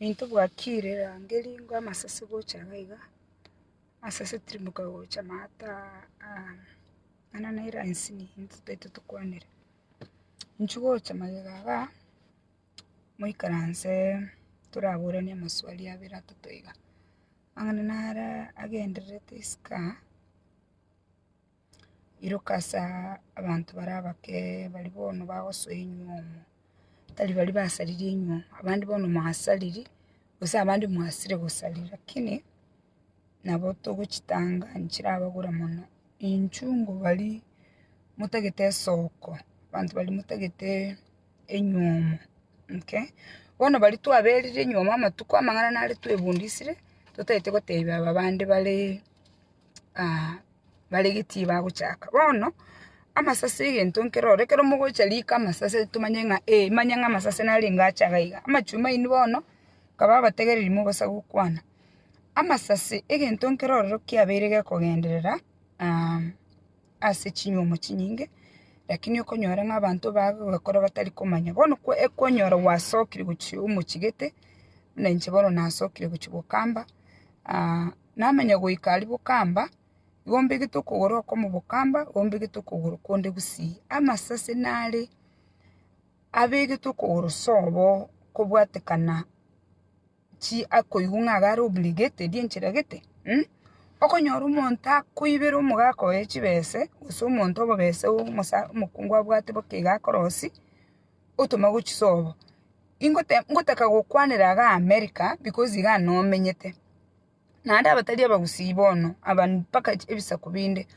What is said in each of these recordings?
Intwe bwakire erangeri ngo amasese gocha iga iga, amasese timoka gocha amato aa mana ne erasini intwe tobaito tokwanire, inchuo gocha magega iga, moikaranse toraboranie amaswali abere atato iga, ang'ana nare agendererete isiko aa. Iroka ase abanto baria abake bari bono bagosoa enyuo omo, tari baria basaririe enyuo, abande bono mwasariri, gose abande mwasire gosariri lakini nabo togochitanga nchirabagore mono. Enchungu baria motagete esoko, abanto baria motagete enyuo omo, okay? Bono baria twaberire enyuo omo amatuko amang'ana naro twebundisire, totagete gotebia aba bande bare bare getii bagochaka. Bono amasase egento nkere oro, ekero mogocha riko amasase tomanye ng'a ee, manye ng'a amasase narenge acha iga iga. Amachuma aino bono, nkaba abategereri mogosa gokwana. Amasase egento nkere ororo kiabeire gekogenderera ase chinyuomo chinyinge, rakini okonyora ng'a abanto bagogekora batari komanya. Bono kwa ekonyora gwasokire gochia omochie gete, buna inche bono nasokire gochia gokamba Namenye goika aria bokamba, igo mbegete okogoro okomo bokamba, igo mbegete okogoro konde gusii. Amasase nare abegete okogoro sobo kobwatekana chi akoigwa ng'a iga are obligated enchera gete um. Okonyora omonto akoibera omogaka oye chibese, gose omonto obobese omosa omokungu abwate boka iga akorosie. otoma gochia sobo. Ingote ngotaka gokwanera iga America because iga nomenyete. Naende abatari abagusii bono aba mpaka ebisaku binde.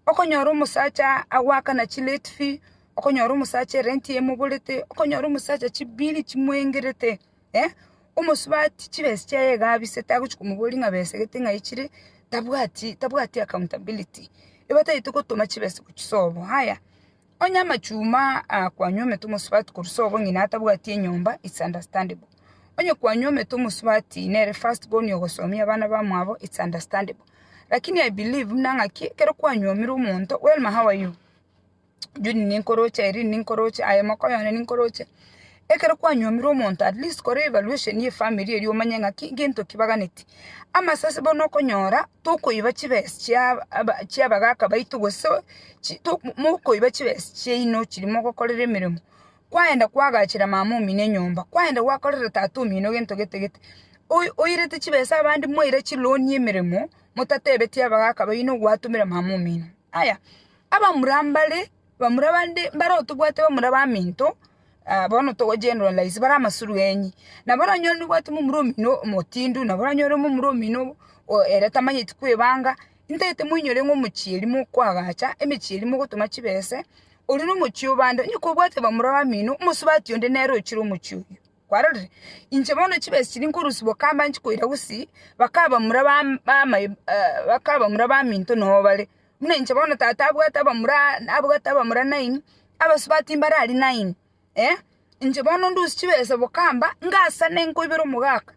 Okonyora omosacha agoakana chilate fee, okonyora omosacha erenti emoborete, okonyora omosacha chibiri chimoengerete, eh, omosubati chibesa chiaye iga abisete agochia komoboria ng'a besa gete ng'a aye chire, tabwati tabwati accountability. Ebataete gotoma chibesa gochia sobo. Haya. Onye amachuma aa kwanywa omete omosubati korwa sobo ng'ina atabwati enyomba it's understandable. Onye kwanywa omete omosubati nere first born ogosomia abana bamwabo it's understandable. Lakini I believe buna ng'aki ekero kwanyomire omonto Welma how are you? Judy ninkoroche Irene ninkoroche aye moka oyo one ninkoroche. Ekero kwanyomirwe omonto at least kore evaluation ye family eria omanye ng'aki gento ki baganeti. Amasasi bono okonyora tokoiba chibesa chia aba chia abagaka baito gose chi to mokoiba chibesa chiaino chiria mogokorera emeremo, kwaenda kwagachera mama omino enyomba, kwaenda gwakorera tata omino gento gete gete, oyi oirete chibesa abande mwaira chiloan y'emeremo, motatebetie abagaka baino gwatomera mama omino. Aya, abamura mbare. Bamura abande mbare otobwate bamura baminto, bono togochienora laisi, bare amasuru enyi. Nabo oranyore nobwate momura omino omotindu, nabo oranyore momura omino ere tamanyeti kwebanga, intagete moinyore ng'a omochieri mokoagacha, emechieri mogotoma chibese, oria nomochie obande. Onye kobwate bamura bamino, omosubati onde nere ochire omochie oyio. Kwarorire? Inche bono chibese chiria nkorusia bokamba nchikoira gosii, bakaba bamura bamai bakaba bamura baminto noo bare. Buna inche bono tata abwate abamura abwate abamura nine, abasubati mbare aria nine, eh, inche bono ndusie chibesa bokamba, ngasane nkoibera omogaka,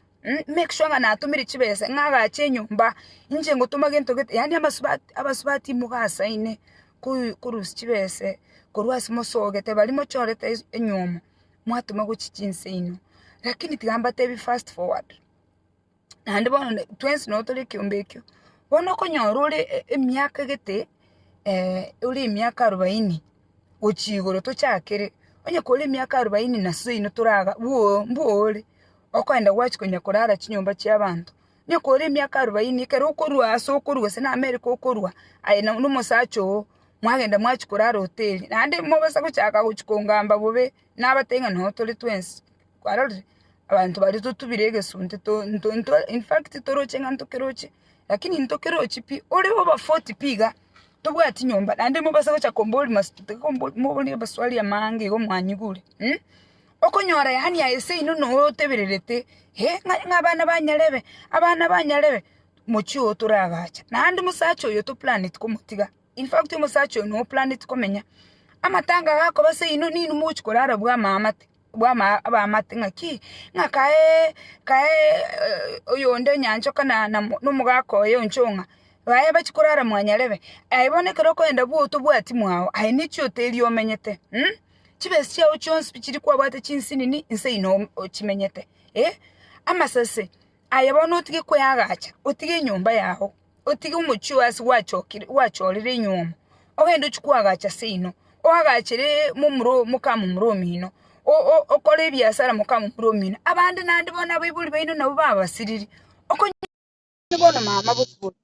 make sure ng'a natomire chibesa ng'a agache enyomba, inche ngotoma gento gete yaani abasubati abasubati mogasaine koi korusia chibese korwa ase mosogete bari mochorete es enywomo, mwatoma gochia chinseino, lakini tiga mbatebi fast forward. naende bono twensi nabo tore ekeombe ekio, bono okonyora ore emiaka gete ore emiaka arobaini gochia igoro tochakere, onye kore emiaka arobaini na suino toraga bwooo mbwooo ore, okoenda gwachi konya korara chinyomba chia abanto, onye kore emiaka arobaini ekero okorwa ase okorwa gose na America okorwa aye na omosacha oo mwagenda mwachi korara hoteli, naende mobisa gochaka gochi kongamba bobe nabatebia ng'a noo tore twensi. kwarorire abanto baria totubire egesunte to- nto- nto infact toroche ng'a ntokeroche lakini ntokerochi pi ore oba forty pi iga tobwati nyomba naende mobase gocha kombori mas tiga kombori moborie amaswali amaange iga omwanyigure okonyora yaani aye seino noe otebererete eh ng'ai ng'a abana ba nyarebe abana ba nyarebe mochie oo toragacha naende mosacha oyo toplaneti komotiga infact omosacha oyo noe oplaneti komenya amatanga gakoba seino ninwe mogochi korara bwamamate. bw'abaamate ng'a ki? Ng'a kae oyonde enyanchoka na omogaka oye o nchong'a, baye bachie korara mwanyarebe. Aye bono ekero okogenda bwo otobwati mwao, aye nichio otebia omenyete. Chibesa chiao chionsi pi chiri kwabwate chinsinini, nse ino ochimenyete. Amasese. Aye bono otige kweagacha, otige enyomba yao, otige omochie oo ase gwachorire enyiomo, ogende ochie koagacha ase eyino, oagachere momura mokamura omino, okore ebiasara mokamura omino, abande naende bono abaibori baino nabo babasiriri, okonyora bono mama bosibore.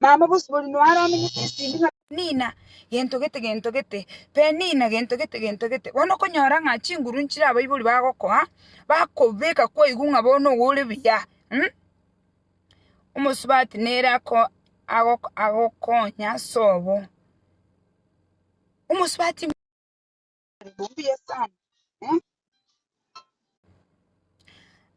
Mama bosio boria noyo aramenyete esindi ng'a Penina gento gete, gento gete, Penina gento gete, gento gete. Bono okonyora ng'a chinguru nchire abaibori bagokoa, bakobeka kwaigu ng'a bono ogo ore buya, mh, omosubati nere ako ago agokonya sobo. Omosubati. Mbuya sana. Eh?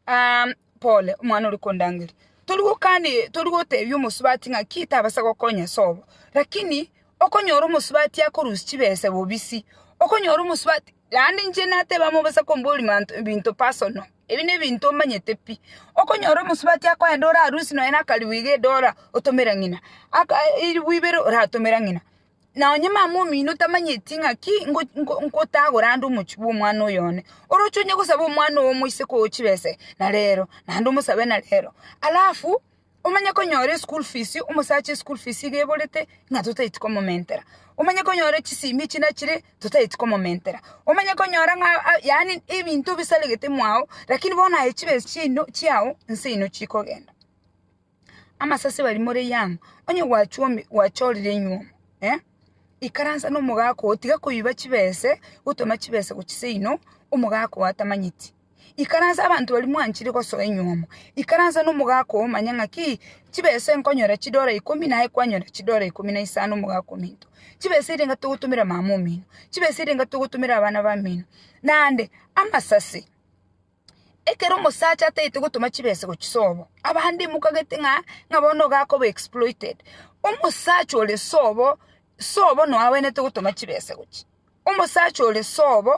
Ah, pole omwana ori kondangeri tori gokani tori gotebia omosubati ng'a ki tabasa gokonya sobo lakini okonyora omosubati akorusia chibesa bobisi okonyora omosubati yaani inche nateba mobasa komboria manto ebinto personal ebi nebinto omanyete pi okonyora omosubati akoenda ore arusi nonya na akaribu iga edola otomera ng'ina aka eribu ibere oratomera ng'ina Na onye mama omino tamanyeti ng'aki ngotagora ande omochie bw'omwana oyo one, oroche onye gosaba omwana oo omoise koa chibese na rero, naende omosabe na rero. Alafu omanye konyora eschool fees, omosacha eschool fees iga eborete ng'a totaeti komomentera. Omanye konyora chisimi echi nachire totaeti komomentera. Omanye konyora ng'a yaani ebinto bisaregete mwao, lakini bono aye chibesa chiaino chiao nse inwe chikogenda. Amasasi bari more young onye gwachorire enyiomo eh ikaransa na omogaka oo tiga koiba chibese gotema chibese gochia seino omogaka oo atamanyeti ikaransa abanto baria mwanchire gosoa enyiomo ikaransa na omogaka oo omanye ng'aki chibese nkonyora chidora ikomi naye kwanyora chidora ikomi na isano omogaka ominto chibesa eria niga togotomera mama omino chibesa eria niga togotomera abana bamino naende amasasi. Ekero omosacha ataete gotoma chibesa gochia sobo, abande imoka gete ng'a ng'a bono iga akoba exploited. Omosacha ore sobo, sobo noyo agwenerete gotoma chibesa gochia. Omosacha ore sobo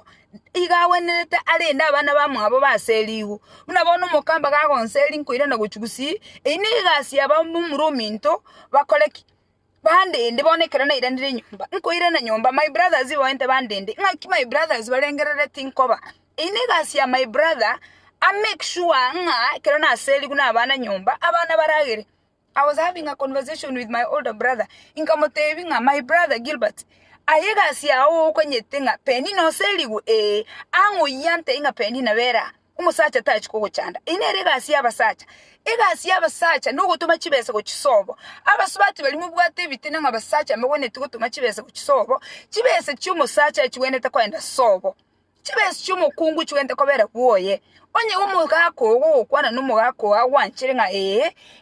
iga agwenerete arende abana bamwabo base erigwe. Buna bono omokamba iga agonseri nkoirana gochia gusii, eyio ne egasi yabo momura ominto bakore ki? Bandende, bono ekero nairanire nyomba, nkoirana nyomba, my brothers ibaoente bandende, ng'aki my brothers barengerereti nkoba. Eye negasi ya my brother, a make sure ng'a ekero naserigwe na abana nyomba, abana baragere. I was having a conversation with my older brother, nkamotebia ng'a my brother Gilbert, aye egasi yao okonyete ng'a Penina oserigwe? Eeh. Ang'o oyio antebie ng'a Penina bera aa? omosacha tachi kogochanda. Eye nere egasi y'abasacha. Egasi y'abasacha nogotoma chibesa gochisobo. Abasubati baria mobwate ebitina ng'a abasacha mobwenereti gotoma chibesa gochisobo, chibesa chi'omosacha chibwenerete kogenda sobo. Chibesa chi'omokungu chibwenerete kobera bwoye. Onye omogaka oo ogokwana nomogaka oo agwanchere ng'a ee,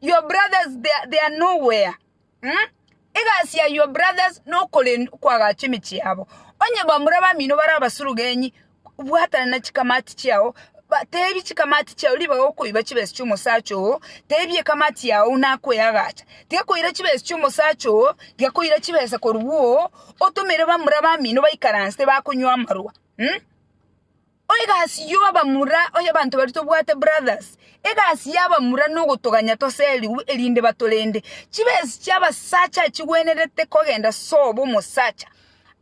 Your brothers they are, they are nowhere. Mm? Egasi ya your brothers nokoren kwagacha emechie yabo. Onye bamura bamino bara abasurugenyi bwatana na chikamati chiao ba- tebi chikamati chiao ribaga okoiba chibesi chiomosacha oo tebi ekamati yao nakoyagacha tigakoira chibesi chiomosacha oo giakoira chibesa korwa oo otomere bamura bamino baikaranse bakonywa amarwa mm? O egasi y'obamura oyo abanto baria tobwate brothers, egasi y'abamura nogotoganya toserigwe erinde batorende. Chibesi chi'abasacha chigwenerete kogenda sobo omosacha.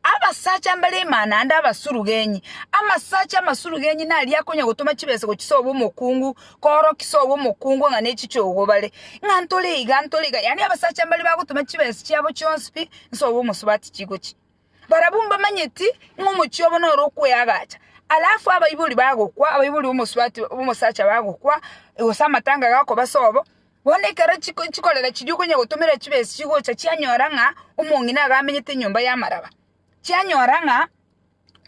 Abasacha mbare emana ande abasurugenyi. Amasacha amasurugenyi naria akonya gotoma chibesa gochi sobo omokungu korokio sobo omokungu ng'a nechichogo bare. Ng'a ntore iga ntore iga yaani abasacha mbare bagotoma chibesa chiabo chionsi pi nsobo omosubati chigochi. Barabwo mbamanyeti ng'a omochie obo noro okweagacha, alafu abaibori bagokwa, abaibori b'omosubati b'omosacha bagokwa, gose amatanga gakoba sobo, bono ekero chiko chikorera chiria okonya gotomerera chibesa chigocha chianyora ng'a omong'ina iga amenyete enyomba y'amaraba, chianyora ng'a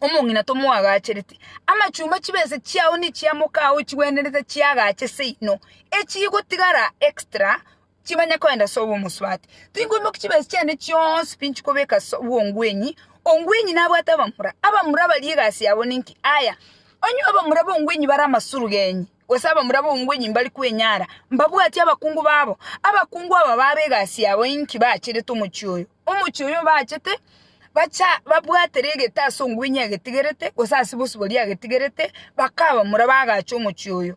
omong'ina tomoagachereti, amachumba chibesa chiao na echiamoka ao chigwenerete chiagache seino, echigotigara extra. chimanye koenda ase obw'omosubati. Tinkoimokia chibesa chiane chionsi pi nchikobeka ase bw'ongwenyi, ongwenyi nabwate abamura. Abamura baria egasi yabo ninki? Aya, onye abamura b'ongwenyi bare amasurugenyi, gose abamura b'ongwenyi mbari kwenyara, mbabwatie abakungu babo. Abakungu aba babe egasi yabo inki baacharete omochie oyo? Omochie oyo obaachete, bacha babwatere egete ase ongwenyi agetigerete, gose ase bosibori agetigerete, bakae abamura bagache omochie oyo.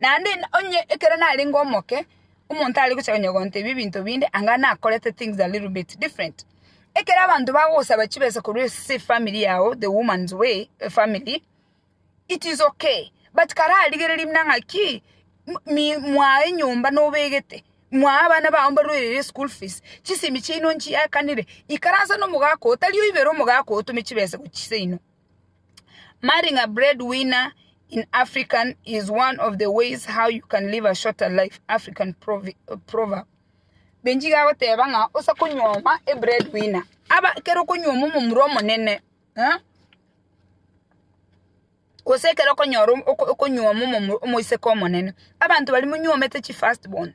Naende onye ekero narenge omoke, omonto are gocha konyegonta ebi ebinto binde, anga nakorete things a little bit different. Ekero abanto bagogosaba chibesa korwa ase efamiri yago, the woman's way efamiri, it is okay, but kararigereria buna ng'a ki, mwaa enyomba nobegete, mwaa abana bao mbarweire eschool fees, chisemi chiaino nchiakanire, ikaransa nomogaka oo, tari oibere omogaka oo otome chibesa gochia seino. Marrying a breadwinner in African is one of the ways how you can live a shorter life, African proverb. Benji iga agoteba ng'a osa konyuoma e breadwinner. Aba ekero okonyuoma omomura omonene, eh? Gose ekero okonyora okonyuoma omoiseke omonene. Abanto baria monyuomete chi first born.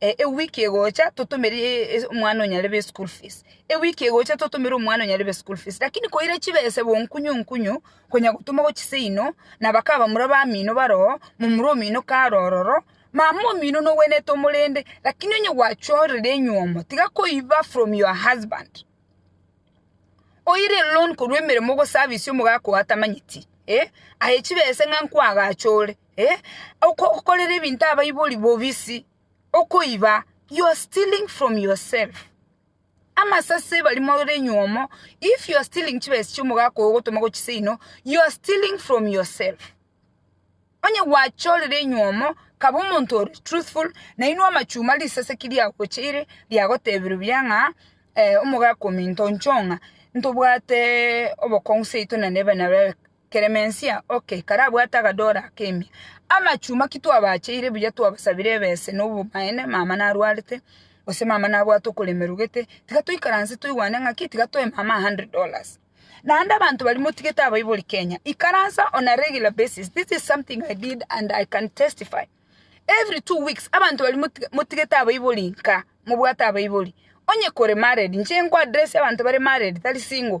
Ewiki egocha totomere omwana onyarebe eschool fees, ewiki egocha totomere omwana onyarebe eschool fees. Lakini koira chibesa bo nkunyu nkunyu, konya gotoma go chiseino, na bakabamura bamino bare oo, momura omino kare ororo, mama omino nogwenerete omorende, lakini onye gwachorire enyiomo, tiga koiba from your husband. Oire eloan korwa emeremo ogoservice omogaka oo atamanyeti, eh, aye chibesa ng'a nkwagache ore. Eh, okokorera ebinto abaibori bobisi, okoiba, you are stealing from yourself. Amasase bari more nyuomo, if you are stealing chibesa chi'omogaka ogo ogotoma gochia seino, you are stealing from yourself. Onye gwachorire enyuomo, kaba omonto ore truthful, nainwe amachuma risase ki riagocheire, riagotebiru buya ng'a eh, omogaka ominto inchoo ng'a ntobwate obokong'u seito na neba nabee Klemensia, Okay, karabwate agadora ak'emia. Amachuma ki twabacheire buya twabasabire ebese na obomaene mama narwarete, gose mama nabwate okoremerwa gete, tiga toikaranse toigwane ng'aki tiga toe mama a hundred dollars. Naende abanto baria motigete abaibori Kenya, ikaransa on a regular basis, this is something I did and I can testify. Every two weeks abanto baria moti motigete abaibori nka, mobwate abaibori. Onye kore married, inche nko address abanto bare married tari single.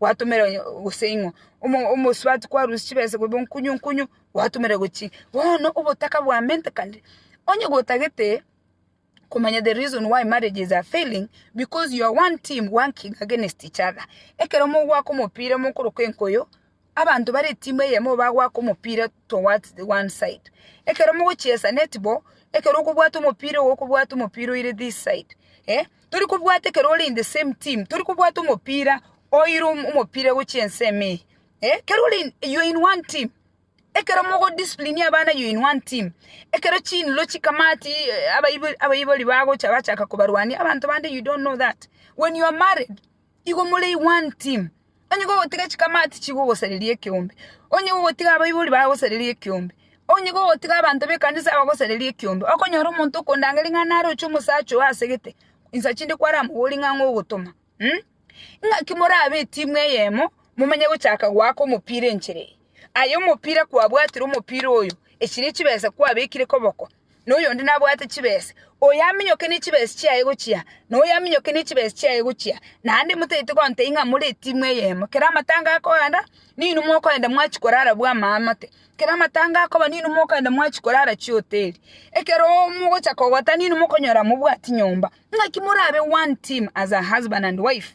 gwatomera onye gose ing'o, omo- omosubati kwarusia chibesa korwa nkunyu nkunyu, gwatomera gochia inki. Bono obotaka bwamentekane, onye gotagete komanya the reason why marriages are failing, because you are one team working against each other. Ekero mogoaka omopira mokoroka enkoyo, abanto bare etimu eyemo bagoaka omopira towards the one side. Ekero mogochiesa netball, ekero okobwata omopira igo okobwata omopira oire this side eh. Tori kobwata ekero ore in the same team, tori kobwata omopira, oire omopira gochia ensemo eye, eh, kero ore in, you are in one team, ekero mogo discipline abana you are in one team, ekero chinlo chikamati abaibori abaibori bagocha bachaka kobarwania abanto bande you don't know that, when you are married. Igo more one team. Onye gogotiga chikamati chigogosareria ekeombe, onye gogotiga abaibori bagosareria ekeombe, onye gogotiga abanto b'ekanisa bagosareria ekeombe, okonyora omonto okondangeria ng'a naroche omosacha oyo ase gete, insa chinde kwaramoborie ng'a ang'e ogotoma. Naki morabe etimu eyemo, momanye gochaka goaka omopira enchera eye. Aye omopira kwabwatire omopira oyo, echi ne chibesa kwabekire koboko. na oyonde nabwate chibese, oyaminyoke ne chibese chiaye gochia, na oyaminyoke ne chibese chiaye gochia, naende motaete gontebia ng'a more etimu eyemo. Kera amatango akogenda, ninwe mokogenda mwachia korara bw'amaamate, kera amatango akoba ninwe mokogenda mwachia korara chihoteli. Ekero mogochia kogota ninwe mokonyora mobwati nyomba. Naki morabe one team as a husband and wife.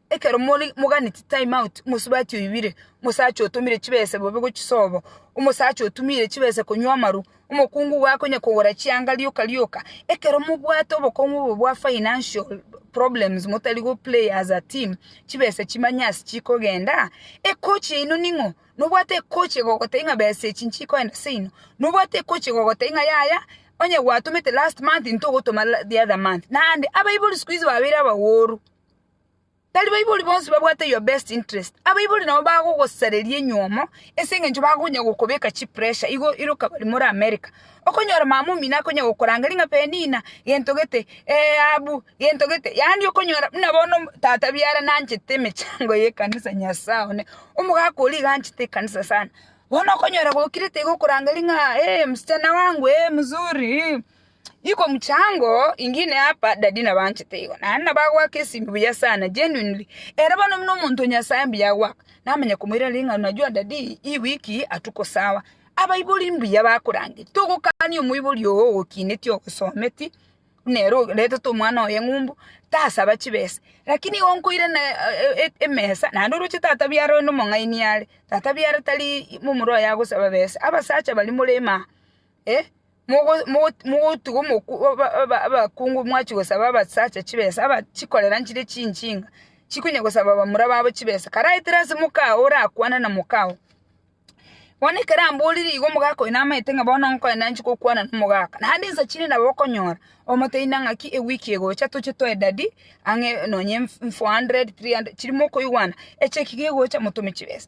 Ekero more moganeti time out, omosubati oibire, omosacha otomire chibese bobe gochisobo, omosacha otumire chibese konywa amaru, omokungu igo akonya kogora chianga rioka rioka. Ekero mobwate obokong'u obo bwa financial problems motari go play as a team, chibese chimanye as chikogenda, ekochi yaino ning'o? Nobwate ekochi egogotebia ng'a besa echi nchikoenda seino? Nobwate ekochi egogotebia ng'a yaya, onye gwatomete last month ntogotoma the other month? Naende abaibori sikuizi babeire abaworu. Tari baibori bonsi babwate your best interest. Abaibori nabo bagogosareria enyomo ase eng'encho bakonya gokobeka chipressure igo iroka bari more America. Okonyora mama omino akonya gokorangeria ng'a Penina, gento gete, eh Abu, gento gete. Yaani okonyora buna bono tata biara nanchete emechango y'ekanisa Nyasae one, omogaka oria iga anchete ekanisa sana. Bono okonyora gokirete iga okorangeria ng'a eh msichana wangu, eh mzuri, eh. Iko mchango ingine hapa daddy nabanchete igo naende nabagoaka esinto buya sana genuinely ere bono buna omonto o nyasaye mbuya agoaka namanya komoira ring'ana unajua daddy hii wiki hatuko sawa abaibori mbuya bakorangeria togokania omoibori oo ogokineti ogosometi buna ere oretete omwana oye ng'o mbu tasaba chibesa lakini igo nkoira na emesa naende oroche tata biara onde omong'aini are tata biara tari momura oye agosaba besa abasacha baria morema aa. Eh, mogotugwa abakungu mwachia gosaba abasacha chibesa, chikorera nchire chinching'a, chikonya gosaba bamura babo chibesa. Karaetere ase moka oo orakwane na moka oo. Bono ekero amborire igo omogaka oyo namaete ng'a bono nkonya nanchi gokwana na omogaka. Naende ensa chinde nabo okonyora, omotebi nang'a ki ewiki egocha toche toe dadi ang'e nonye four hundred, three hundred chire mokoigwana, eche ki gegocha motome chibesa.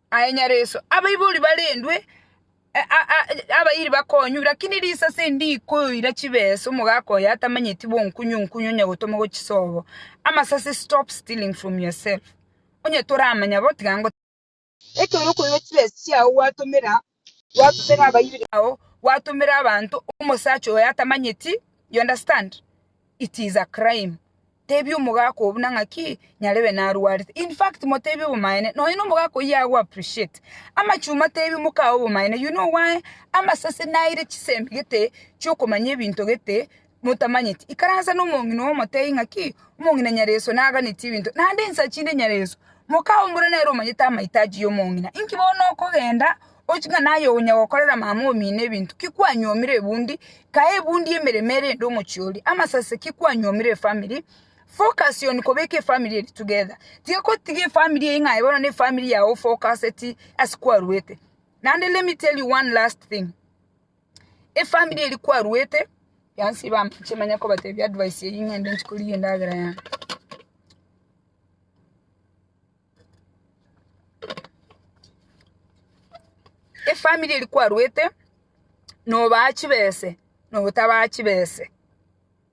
Aye nyareso, abaibori barendwe abayiri bakonywa, lakini risase ndikoira chibesa omogaka oye atamanyeti bonkunywa onkunywa onye gotoma gochisobo amasase stop stealing from your self onye toramanya bo tiga ngotebi. Ekero okoira chibesa chiao gwatomera gwatumera abaibori bao, gwatumera abanto omosacha oyo atamanyeti, you understand? It is a crime. Tebia omogaka oo buna ng'aki nyarebe narwarete. In fact motebie obomaene, nonye na omogaka oyio ago appreciate. Amachuma tebia omoka oo obomaene, you know why? Amasase naire chisemi gete chiokomanya ebinto gete motamanyeti, ikaransa nomong'ina oo motebie ng'aki, Omong'ina Nyareso naganetie ebinto, naende ensachi inde Nyareso. Mokaombora nere omanyete amaito ayio y'omong'ina. Inki bono okogenda ochie ng'a naye onya gokorera mama omino ebinto, ki kwanyuomire ebundi, kae ebundi y'emeremo erende omochie oria, amasase ki kwanyuomire efamiri, focus on kobeka efamiri eria together, tiga gotiga efamiri eyio ng'a aye bono nefamiri yao ofokaseti ase kwaruete, naende let me tell you one last thing. Efamiri eri kwaruete yansi bampiche manye kobatebia advice eye ngende nchi korigia endagera yane. Efamiri eri kwaruete nobaa chibese nobotabaa chibese.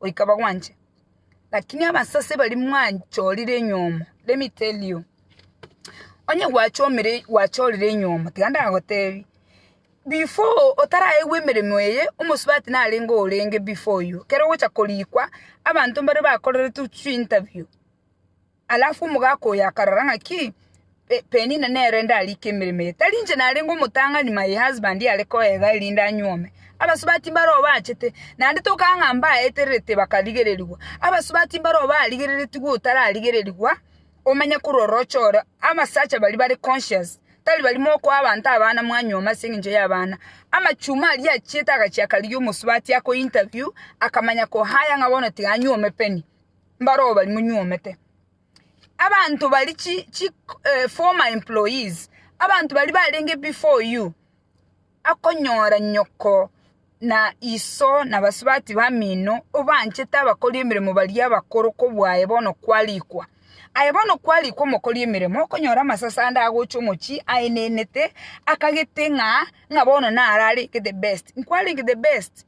goika bagwanche. Lakini abasase baria mwachorire enyomo, let me tell you, onye gwachomire gwachorire enyomo, tiga ndagotebie, before otaraegwa emeremo eye, omosubati narenge orenge before you, ekero ogocha korikwa, abanto mbare bakorerete chwi interview. Alafu omogaka oyo akarora ng'a ki, Penina nere ndarike emeremo eye, tari inche narenge omotang'ani my husband are koega erinde anyuome. Abasubati mbaro obachete, naende tokaba ng'a mbaetererete bakarigererigwa. Abasubati mbaro barigereretigwe otararigererigwa, omanye korwa oroche oro abasacha baria bare conscious, tari baria mokoa abanto abana mwanyuoma ase eng'encho y'abana. Amachuma aria achiete agachia akarigia omosubati akointerview, akamanya kohaya ng'a bono tiga anyuome Penny. Mbaro obari monyuomete. Abanto bari chi chi eh, former employees, abanto bari barenge before you, akonyora nyoko na iso na basubati bamino obanchete abakori emeremo baria abakoro kobwaye bono kwarikwa. Aye bono kwarikwa omokori emeremo okonyora amasase ande agocha omochie aenenete akagete ng'a ng'a bono nararenge the best. Nkwarenge the best.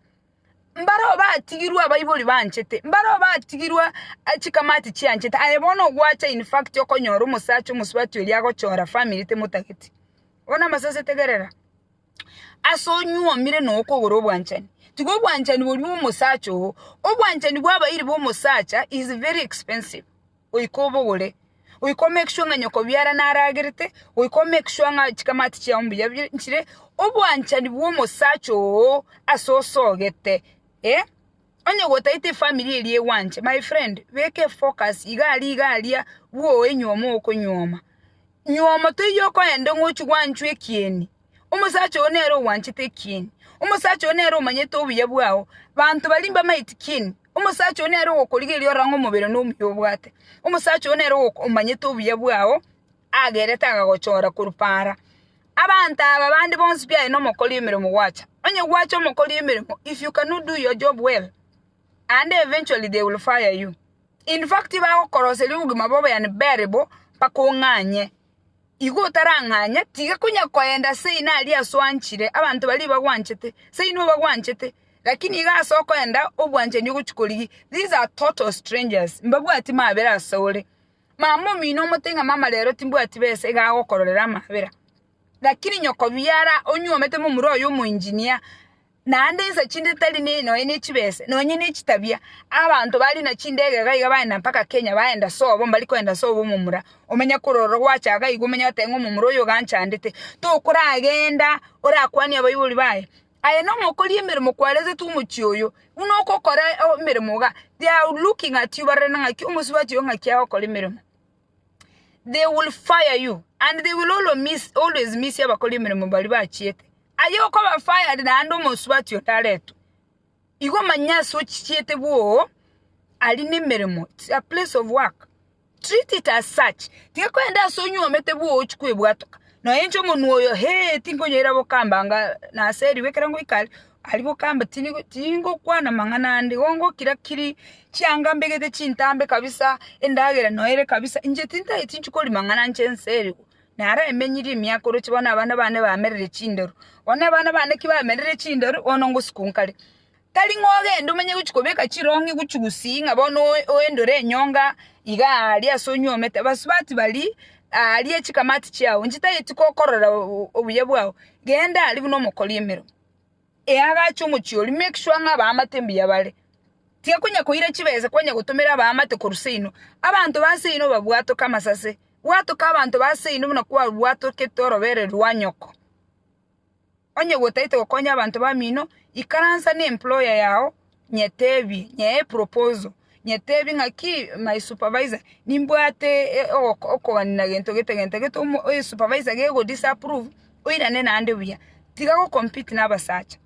Mbareo batigirwe abaibori banchete, mbareo batigirwe chikamati chianchete, aye bono ogwacha in fact okonyora omosacha omosubati oria agochora family temotageti. Bono amasese tegerera, ase onyuomire na okogora obwanchani, tiga obwanchani boria bwa omosacha oo, obwanchani bwa abairi ba omosacha is very expensive. goika obogore, goika o make sure ng'a nyoko biara naragerete, goika o make sure ng'a chikamati chiao mbuya bire nchire, obwanchani bw'omosacha oo ase osogete onye gotaete efamiri eria egwanche my friend beka efocus iga aria iga aria bwoe nyuoma okonyuoma, nyuoma toiyo okoenda ng'a ochia gwanchwa ekieni. Omosacha oo nere ogwanchete ekieni, omosacha oo nere omanyete obuya bwao. Banto baria mbamaeti kieni, omosacha oo nere ogokorigereria orang'e omobere na omuya obwate. Omosacha oo nere ogoko- omanyete obuya bwao, agerete akagochora korwa paara. Abanto aba bande bonsi pi aye na omokori emeremo gwacha. Onye gwacha omokori emeremo, if you cannot do your job well, aande eventually they will fire you. In fact, tibagokoroseria obogima bobe unbearable mpaka ong'anye. Igo otarang'anya, tiga konya koenda seino aria aswanchire abanto baria bagwanchete, seino obagwanchete, lakini iga ase okoenda obwanchani ogochia korigia, these are total strangers, mbabwati mabera ase ore. Mama omino omote ng'a mama rero timbwati besa iga agokororera amabera, lakini nyoko biara onyuomete momura oye omoengineer. Naende insa chinde tari ne nonya ne chibese, nonya ne chitabia, abanto bare na chindegega iga bagenda mpaka Kenya bagenda sobo mbari kogenda sobo omomura omenya korora gwachaka igo omenya goteba ng'a omomura oyo ganchandete tokoragenda orakwanie abaibori baye aye nong'o okoria emeremo kwarete omochie oyo buna ogokora emeremo iga they are looking at you barorire ng'aki omosubati oyo ng'aki agokora emeremo. they will fire you and they will always miss, always miss abakora emeremo bari bachiete aye okoba fired naende omosubati onde aretwe igo manya ase ochichiete bwoo ari nemeremo it's a place of work treat it as such tiga kogenda ase onywomete bwoo ochie kwebwatoka noe inche omonwe oyo hee tinkonyoira bokambanga naseriwe ekero ngoika aria Aria bokamba, Tingokwana mang'ana ande, gongokira-kiri chianga mbegete chintambe kabisa, endagera noere kabisa, inche tintageti inchwe koria mang'ana anche ense eye, naro emenyirie emiaka oroche bono abana bane bamerire chinderu. Bono abana bane ki bamerire chinderu, bono ngosika o nkare. Tari ng'a ogende omenye gochia kobeka chirong'i gochia gusii ng'a bono oendore enyonga iga aria ase onyuomete, abasubati baria aria chikamati chiao, inche tageti kokorora obuya bwao, genda aria buna omokori emeremo. eagacha omochie oria make sure ng'a abaamate mbuya bare. Tiga konya koira chibesa kwanya gotomera abaamate korwa seino. Abanto ba seino babwatoke amasase, bwatoka abanto ba seino buna kwabwatokete orobere rwa nyoko. Onye gwotaete gokonya abanto bamino, ikaransa na employer yao nyetebie nyee eproposal nyetebie ng'aki my supervisor nimbwate okogania na gento gete gento gete esupervisor gego disapprove oirane naende buya tiga go compete na abasacha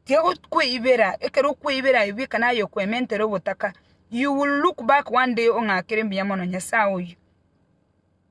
tiga kweibera ekero okweibera aye bweka naye okwementere ogotaka you will look back one day ong'akere mbuya mono nyasae oyo.